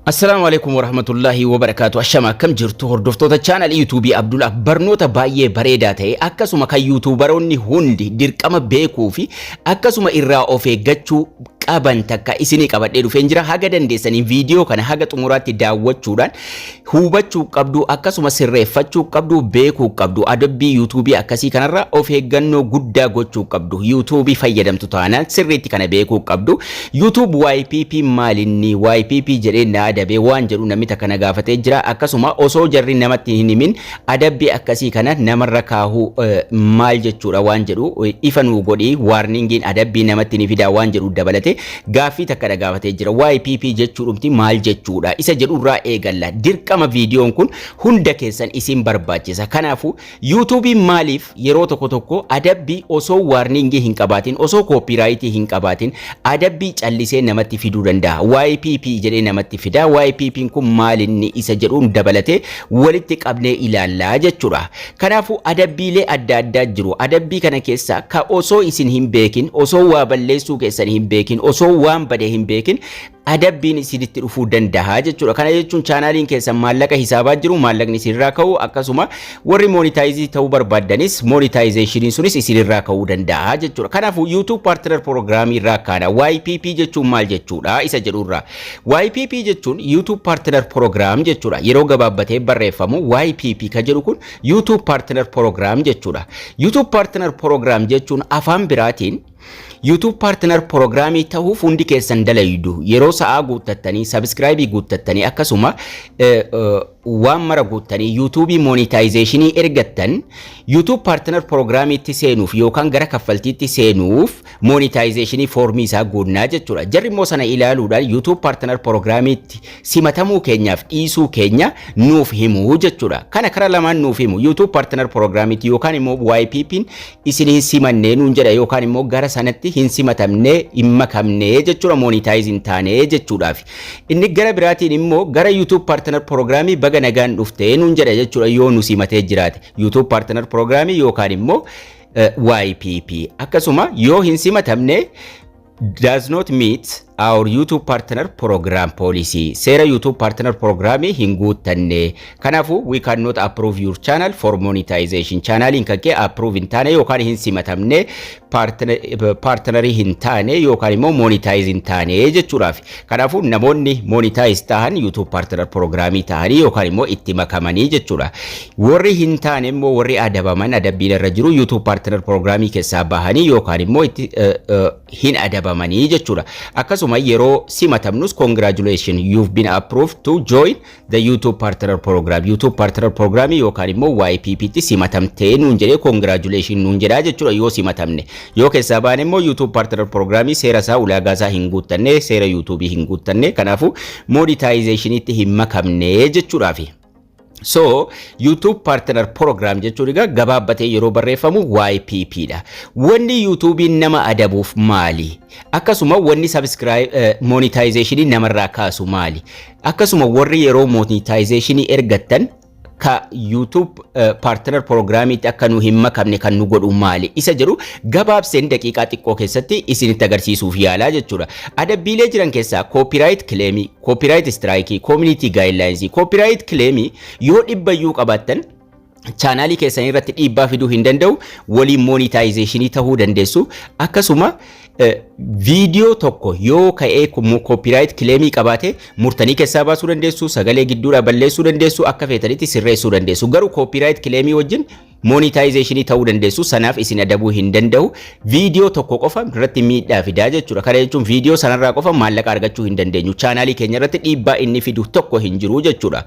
Assalaamu alaikum warahmatullaahi wabarakaatu ashama akkam jirtu hordoftoota chaanalii yuutuubii Abdulaaf barnoota baay'ee bareedaa ta'e akkasuma kan yuutuubaroonni hundi dirqama beekuu fi akkasuma irraa of eeggachuu qaban takka isinii qabadhee dhufeen jira haga dandeessanii viidiyoo kana haga xumuraatti daawwachuudhaan hubachuu qabdu akkasuma sirreeffachuu qabdu beekuu qabdu adabbii yuutuubii akkasii kanarra of eeggannoo guddaa gochuu qabdu yuutuubii fayyadamtu taanaan sirriitti kana beekuu qabdu YouTube ypp maalinni ypp jedhee na adabee waan jedhu namni takka na gaafatee jira akkasuma osoo jarri namatti hin himin adabbii akkasii kana namarra kaahuu maal jechuudha waan jedhu ifa nuu godhi waarningiin adabbii namatti ni fidaa waan jedhu dabalate gaaffii takka na gaafatee jira ypp jechuudhumti maal jechuudha isa jedhurraa eegalla dirqama viidiyoon kun hunda keessan isin barbaachisa kanaafuu Yuutuubiin maaliif yeroo tokko tokko adabbii osoo waarniingii hin qabaatin, osoo kooppiiraayitii hin qabaatin adabbii callisee namatti fiduu danda'a? YPP jedhee namatti fida. YPPn kun maalinni isa jedhuun dabalatee walitti qabnee ilaallaa jechuudha. Kanaafuu adabbiilee adda addaa jiru. Adabbii kana keessaa ka osoo isin hin beekin, osoo waa balleessuu keessan hin beekin, osoo waan bade hin beekin adabbiin isinitti dhufuu danda'a jechuudha. Kana jechuun chaanaaliin keessan maallaqa hisaabaa jiru maallaqni isinirraa ka'u akkasuma warri moonitaayizii ta'uu barbaaddanis moonitaayizeeshiniin sunis isinirraa ka'uu danda'a jechuudha. Kanaafuu YouTube Partner Program irraa kaana YPP jechuun maal jechuudha isa jedhurraa. YPP jechuun YouTube Partner Program jechuudha. Yeroo gabaabbatee barreeffamu YPP ka jedhu kun YouTube Partner Program jechuudha. YouTube Partner Program jechuun afaan biraatiin YouTube Partner Prograamii ta'uuf hundi keessan dalaydu yeroo sa'aa guuttattanii sabiskiraayibii guuttattanii akkasuma waan mara guuttanii YouTube monetization ergattan YouTube Partner Prograamiitti seenuuf yookaan gara kaffaltiitti seenuuf monetization foormii isaa guunnaa jechuudha. Jarri immoo sana ilaaluudhaan YouTube Partner Prograamiitti simatamuu keenyaaf dhiisuu keenya nuuf himu jechuudha. Kana kara lamaan nuuf himu YouTube Partner Prograamiitti yookaan immoo YPP'n isin hin simanne nuun jedha yookaan immoo gara sanatti hin simatamne hin makamne jechuudha moonitaayiz hin taane jechuudhaaf. Inni gara biraatiin immoo gara YouTube Partner Program baga nagaan dhufte nuun jedha jechuudha yoo nu simatee jiraate. YouTube Partner Program yookaan immoo YPP. Akkasuma yoo hin simatamne does not meet our YouTube partner program policy. Seera YouTube partner programii hin guuttanne. Kanaafuu we cannot approve your channel for monetization. Chaanaaliin kan kee approve hin taane yookaan hin simatamne partner- eh, partnerii hin taane yookaan immoo monetize hin taane jechuudhaaf. Kanaafuu namoonni monetize tahan YouTube partner program tahanii yookaan immoo itti makamanii jechuudha. Warri hin taane immoo warri adabaman adabbiin irra jiru YouTube partner program keessaa bahanii yookaan immoo itti eh, eh, hin adabamanii jechuudha. Akkasuma yeroo simatamnus congratulations you've been approved to join the YouTube Partner Program YouTube Partner Program yookaan immoo YPP tti simatamtee nuun jedhee congratulation nuun jedhaa jechuudha yoo simatamne yoo keessaa baane immoo YouTube Partner Program seera isaa ulaagaa isaa hin guuttanne seera YouTube hin guuttanne kanaafuu monetization itti hin makamne jechuudhaafi. So YouTube Partner Program jechuun egaa gabaabbatee yeroo barreeffamu YPP dha. Wanni YouTube'n nama adabuuf maali? Akkasuma wanni subscribe eh, monetization namarraa kaasu maali? Akkasuma warri yeroo monetization ergattan ka YouTube eh, partner programmiitti akka nu hin makamne kan nu godhu maali isa jedhu gabaabseen daqiiqaa xiqqoo keessatti isinitti agarsiisuuf yaalaa jechuudha. Adabbiilee jiran keessaa copyright claim, copyright strike, community guidelines, copyright claim yoo dhibbayyuu qabaattan chaanaalii keessan irratti dhiibbaa fiduu hin danda'u waliin moonitaayizeeshinii ta'uu dandeessu akkasuma viidiyoo tokko yoo ka'ee koopiraayit kileemii qabaate murtanii keessaa baasuu dandeessu sagalee gidduudhaa balleessuu dandeessu akka feetanitti sirreessuu dandeessu garuu koopiraayit kileemii wajjin moonitaayizeeshinii ta'uu dandeessu sanaaf isin adabuu hin danda'u viidiyoo tokko qofa irratti miidhaa fidaa jechuudha kana jechuun viidiyoo sanarraa qofa maallaqa argachuu hin dandeenyu chaanaalii keenya irratti dhiibbaa inni fidu tokko hin jiru jechuudha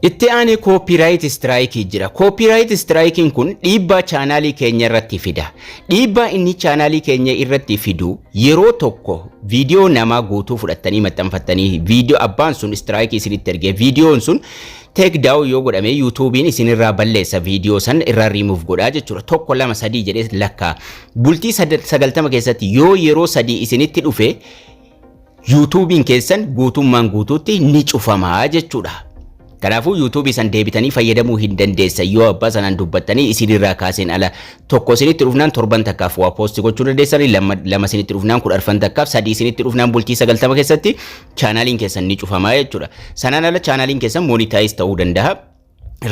Itti aanee Copyright Strike jira. Copyright Strike'n kun dhiibbaa chaanaalii keenya irratti fida. Dhiibbaa inni chaanaalii keenya irratti fidu yeroo tokko viidiyoo namaa guutuu fudhattanii maxxanfattanii viidiyoo abbaan sun strike isinitti ergee viidiyoon sun take down yoo godhame yuutuubiin isinirraa balleessa viidiyoo san irraa remove godhaa jechuudha. Tokko lama sadii jedhee lakkaa. Bultii sad- sagaltama keessatti yoo yeroo sadii isinitti dhufe yuutuubiin keessan guutummaan guutuutti ni cufama jechuudha. Kanaafuu yuutuubii san deebitanii fayyadamuu hin dandeessan yoo abbaa sanaan dubbattanii isinirraa kaaseen ala tokko isinitti dhufnaan torban takkaaf waa poosti gochuu dandeessanii lama, lama isinitti dhufnaan kudha arfan takkaaf sadii isinitti dhufnaan bultii sagaltama keessatti chaanaaliin keessan ni cufama jechuudha. Sanaan ala chaanaaliin keessan moonitaayiz ta'uu danda'a.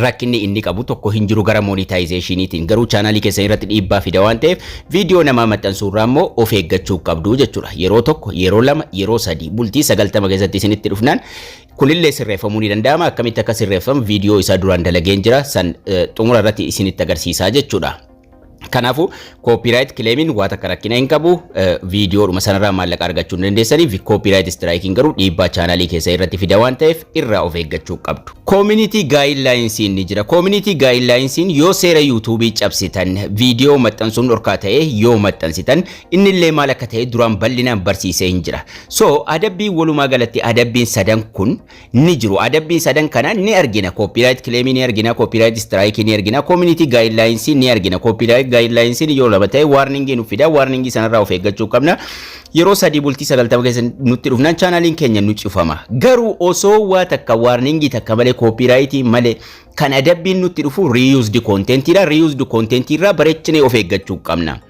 rakkinni inni qabu tokko hin jiru gara monetizationiitiin garuu chaanaalii keessan irratti dhiibbaa fida waan ta'eef viidiyoo namaa maxxansuu irraa immoo of eeggachuu qabdu jechuudha yeroo tokko yeroo lama yeroo sadii bultii sagaltama keessatti isinitti dhufnaan kunillee sirreeffamuu ni danda'ama akkamitti akka sirreeffamu viidiyoo isaa duraan dalageen jira san xumura irratti isinitti agarsiisaa jechuudha. Kanaafuu koopiraayit kileemiin waa takka rakkina hin qabu viidiyoodhuma sanarraa maallaqa argachuu hin dandeessanii koopiraayit istiraayikiin garuu dhiibbaa chaanaalii keessa irratti fida waan ta'eef irraa of eeggachuu qabdu. Koominitii gaayinlaayinsiin ni jira. Koominitii gaayinlaayinsiin yoo seera yuutuubii cabsitan viidiyoo maxxansuun dhorkaa ta'e yoo maxxansitan innillee maal akka ta'e duraan bal'inaan barsiisee hin jira. So adabbiin walumaa galatti adabbiin sadan kun ni jiru. Adabbii sadan kana ni argina. Copyright claim ni argina, copyright strike ni argina, community guidelines ni argina. Copyright guidelines yoo lama ta'e warning nu fida. Warning sanarraa of eeggachuu qabna. Yeroo sadii bultii sagaltama keessa nutti dhufnaan chaanaaliin keenya nu cufama. Garuu osoo waa takka warning takka malee copyright malee kan adabbiin nutti dhufu reused content dha. Reused content irraa bareechinee of eeggachuu qabna.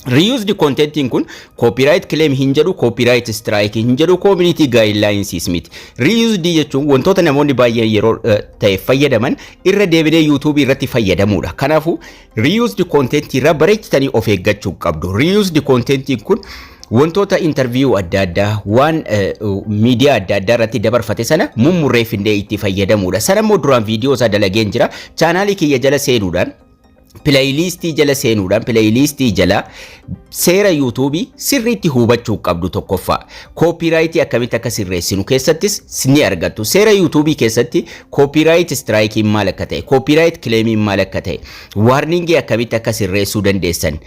Reused contentiin kun copyright claim hin jedhu, copyright strike hin jedhu, community guidelines miti. Reused jechuun wantoota namoonni baay'een yeroo eh, ta'e fayyadaman irra deebinee YouTube irratti fayyadamuudha. Kanaafuu reused content irraa bareechitanii of eeggachuu qabdu. Reused contentiin kun wantoota interview adda addaa waan eh, miidiyaa adda addaa irratti dabarfate sana mummurreeffindee itti fayyadamuudha. Sana immoo duraan viidiyoo isaa dalageen jira. Chaanaalii kiyya jala seenuudhaan pileeyiliistii jala seenuudhaan pileeyiliistii jala seera yuutuubii sirriitti hubachuu qabdu tokkoffaa koopiiraayitii akkamitti akka sirreessinu keessattis ni argattu seera yuutuubii keessatti koopiiraayit istiraayikiin maal akka ta'e koopiiraayit kileemiin maal akka ta'e waarningii akkamitti akka sirreessuu dandeessan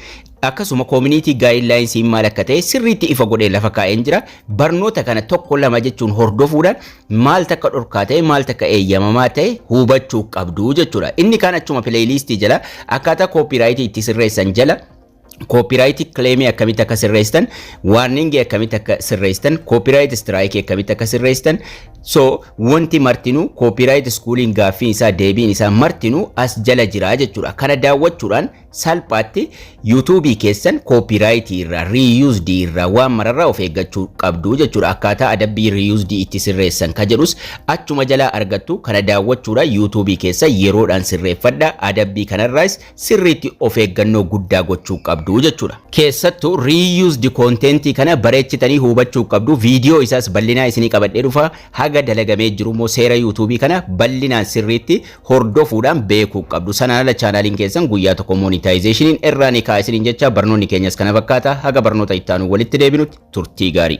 akkasuma koomuniitii gaayidlaayinsiin maal akka ta'e sirriitti ifa godhee lafa kaa'een jira barnoota kana tokko lama jechuun hordofuudhaan maal takka dhorkaa ta'e maal takka eeyyamamaa ta'e hubachuu qabdu jechuudha. Inni kaan achuma pileeyiliistii jala akkaataa kooppiiraayitii itti sirreessan jala kooppiiraayitii kileemii akkamitti akka sirreessitan waarningii akkamitti akka sirreessitan kooppiiraayit istiraayikii akkamitti akka sirreessitan so wanti martinuu kooppiiraayit iskuuliin gaaffiin isaa deebiin isaa martinuu as jala jira jechuudha. Kana daawwachuudhaan Salphaatti YouTube keessan copyright irraa, reused irraa, waan mararraa of eeggachuu qabdu jechuudha. Akkaataa adabbii reused itti sirreessan ka jedhus achuma jalaa argattu kana daawwachuudhaan YouTube keessa yeroodhaan sirreeffadha. Adabbii kanarraas sirriitti of eeggannoo guddaa gochuu qabdu jechuudha. Keessattuu reused content kana bareechitanii hubachuu qabdu. Viidiyoo isaas bal'inaa isinii qabadhee dhufa. Haga dalagamee jiru immoo seera YouTube kana bal'inaan sirriitti hordofuudhaan beekuu qabdu. Sanaan ala chaanaaliin keessan guyyaa tokko moonitaayizeeshiniin irraa ni ka'a isiniin jecha barnoonni keenyas kana fakkaata haga barnoota itti aanu walitti deebinutti turtii gaarii.